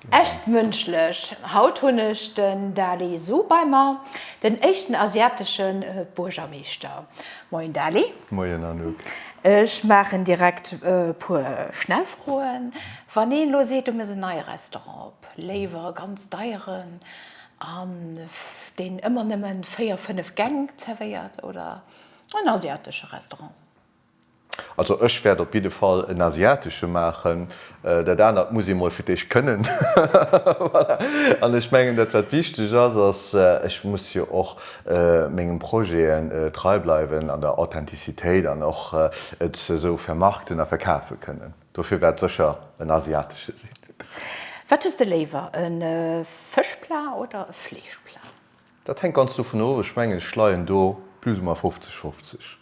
Echt mënschlech! Haut hunn ech den Dali Su bei mer, den éischten asiatesche Buergermeeschter. Moien Dali. Moien Anouk. Ech maachen direkt e puer schnell Froen. Wann een elo seet, do muss en neie Restaurant op, léiwer e ganz deieren, an deen ëmmer nëmmen 4, 5 Gäng zerwéiert oder en asiatesche Restaurant? Also ech wärt op jidde Fall en asiatesche maachen, dat anert muss ee mol fir d'éischt kënnen. Voilà. An ech mengen dat wat wichteg ass, ass, ech muss jo och mengen Projeten trei bleiwen an der Authentizitéit an och et esou vermarkten a verkafe kënnen. Dofir wärt sécher en asiatesche sinn. Wat hues de léiwer, e Fëschplat oder e Fleeschplat? Dat hänkt ganz dovun of, ech mengen ech leien do plus ou moins 50, 50.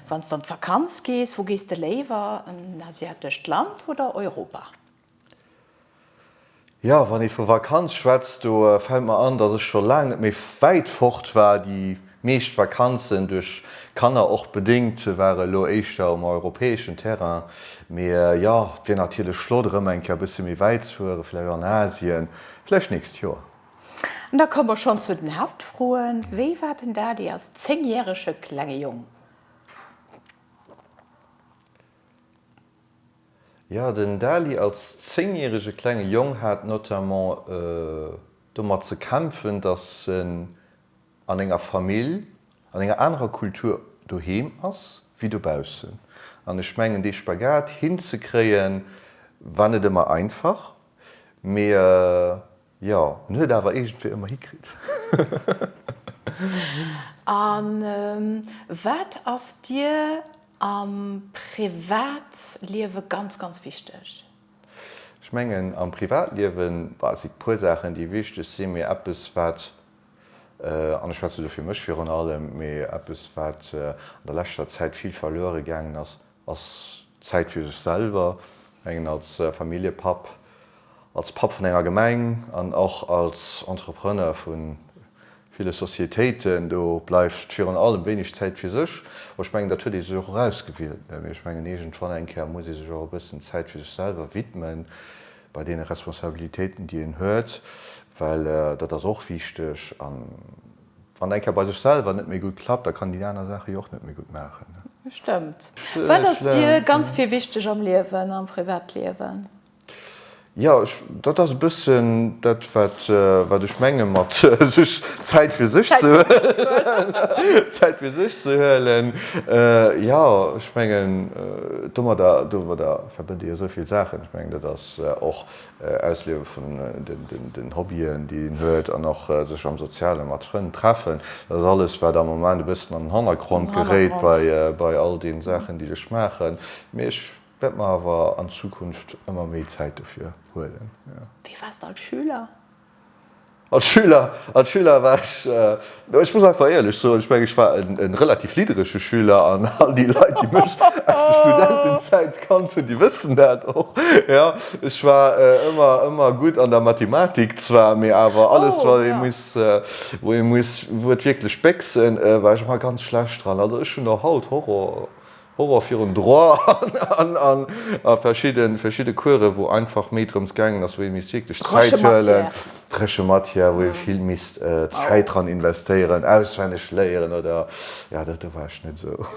Wann s de an d'Vakanz gees, wou gees de léiwer, an en asiatescht Land oder Europa? Jo, wann ee vu Vakanz schwätzt, do fält mer an, dass ech scho laang net méi wäit fort war. Déi meescht Vakanzen, duerch Kanner och bedéngt, ware elo éischter um europäeschen Terrain. Mee jo, et wier natierlech flott, erëm eng Kéier e bësse méi wäit ze fueren, vläicht an Asien, vläicht d'nächst Joer. An da komme mer schonn zu den Haaptfroen, Wéi war den Dadi als zéngjärege klenge Jong? Jo, den Dali als zéngjärege klenge Jong hat notamment domat ze kämpfen, datt en an enger Famill, an enger anerer Kultur doheem ass wéi dobaussen. An ech mengen, dee Spagat hinzekréien, war net ëmmer einfach, mee Jo, en huet awer iergendwéi ëmmer hikritt. A wat ass dir am Privatliewe ganz, ganz wichteg? Ech mengen am Privatliewe si puer Saachen, déi wichteg sinn, mee eppes wat, an ech schwätze do fir mech virun allem, mee eppes wat an der leschter Zäit vill verluere gaangen ass, Ass Zäit fir sech selwer, mengen als Familljepapp, als Papp vun enger Gemeng an och als Entrepreneur vu ville Societéiten, do bleift virun allem wéineg Zäit fir sech. Bon, ech mengen dat huet ee sech och erausgewielt, mä ech mengen iergendwann eng Kéier muss ee sech och e bëssen Zäit fir sech selwer widmen, bei deene Responsabilitéiten déi een huet, well dat ass och wichteg. Wann eng Kéier bei sech selwer net méi gutt klappt, da kann déi aner Saache jo och net méi gutt maachen. Stëmmt. Wat ass dir ganz vill wichteg am Liewen, am Privatliewen? Jo, dat ass e bëssen dat, wat ech menge mat sech Zäit fir sech ze huelen. Zäit fir sech ze huelen, jo. Ech mengen domadder, domadder verbënnt ee jo esou vill Saachen. Ech mengen dat ass och Ausliewe vun den Hobbyen, déi een huet an och sech am Soziale mat Frënn treffen, dat ass alles, wat am Moment e bëssen an den Hannergrond geréit bei all deene Saachen, déi ech maachen. Mee ech wäert mer awer an Zukunft ëmmer méi Zäit dofir huelen. Wéi waars de als Schüler? Als Schüler, als Schüler war ech, ech muss einfach éierlech soen, ech mengen, ech war e relativ lidderege Schüler an all déi Leit, déi mech aus der Studentenzäit kannt hunn, déi wëssen dat och, jo. Ech war ëmmer, ëmmer gutt an der Mathematik zwar, mee awer alles, wat ee muss, wou ee muss, wou et wierklech béchsen, war ech ëmmer ganz schlecht dran. Also ech hunn och haut Horror Horror virun Droit an a verschidde Course, wou einfach méi drëms gaangen ass, wou ee misst wierklech Zäit huelen, dréche Matière, wou ee vill misst Zäit dran investéieren, auswenneg léieren oder, jo, do war ech net esou.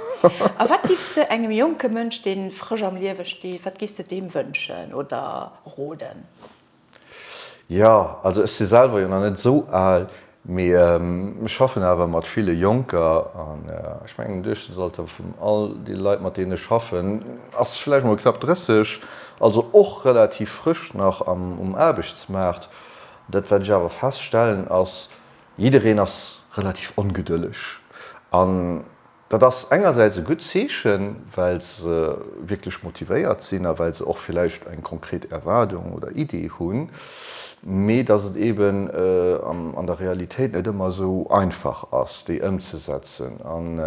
A wat giffs de engem jonke Mënsch, dee frësch am Liewe steet, wat giffs de deem wënschen oder roden? Jo, also ech si selwer jo nach net esou al, mee ech schaffen awer mat ville Jonker an ech mengen den Duerchschnittsalter vun all de Leit mat deenen ech schaffen ass vläicht mol knapp 30, also och relativ frësch nach um Aarbechtsmaart. Dat wat ech awer feststellen ass, jiddereen ass relativ ongedëlleg an Dat ass engersäits e gutt Zeechen, well se wierklech motivéiert sinn a well se och villäicht eng konkret Erwaardung oder Idee hunn, mee datt et eeben an der Realitéit net ëmmer esou einfach ass, déi ëmzesetzen. An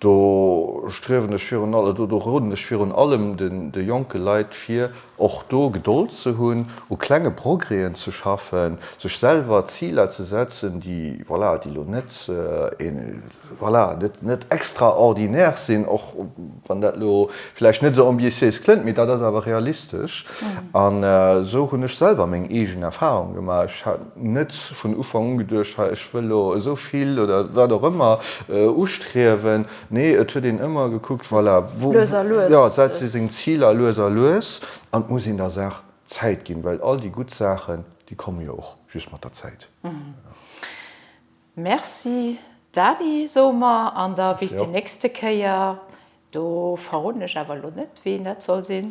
do striewen ech virun allem, do roden ech virun allem de jonke Leit vir, och do Gedold ze hunn, u klenge Progrèsen ze schaffen, sech selwer Ziler ze setzen, déi, voilà, déi elo net, Voilà, net net extraordinaires sinn, och wann dat elo vläicht net esou ambitiéis klëngt, mee dat ass awer realistesch. An esou hunn ech selwer meng eegen Erfahrung gemaach. Ech hat net vun Ufank un geduecht, hei ech wëll elo esou vill oder wat och ëmmer ustriewen. Nee, et huet een ëmmer gekuckt, voilà, wou, jo, wat si seng Ziler lues a lues. An et muss een der Saach Zäit ginn, well all déi gutt Saachen, déi komme jo och just mat der Zäit. Merci Dany soe mer an da bis déi nächste Kéier. Do verroden ech awer elo net wien dat soll sinn.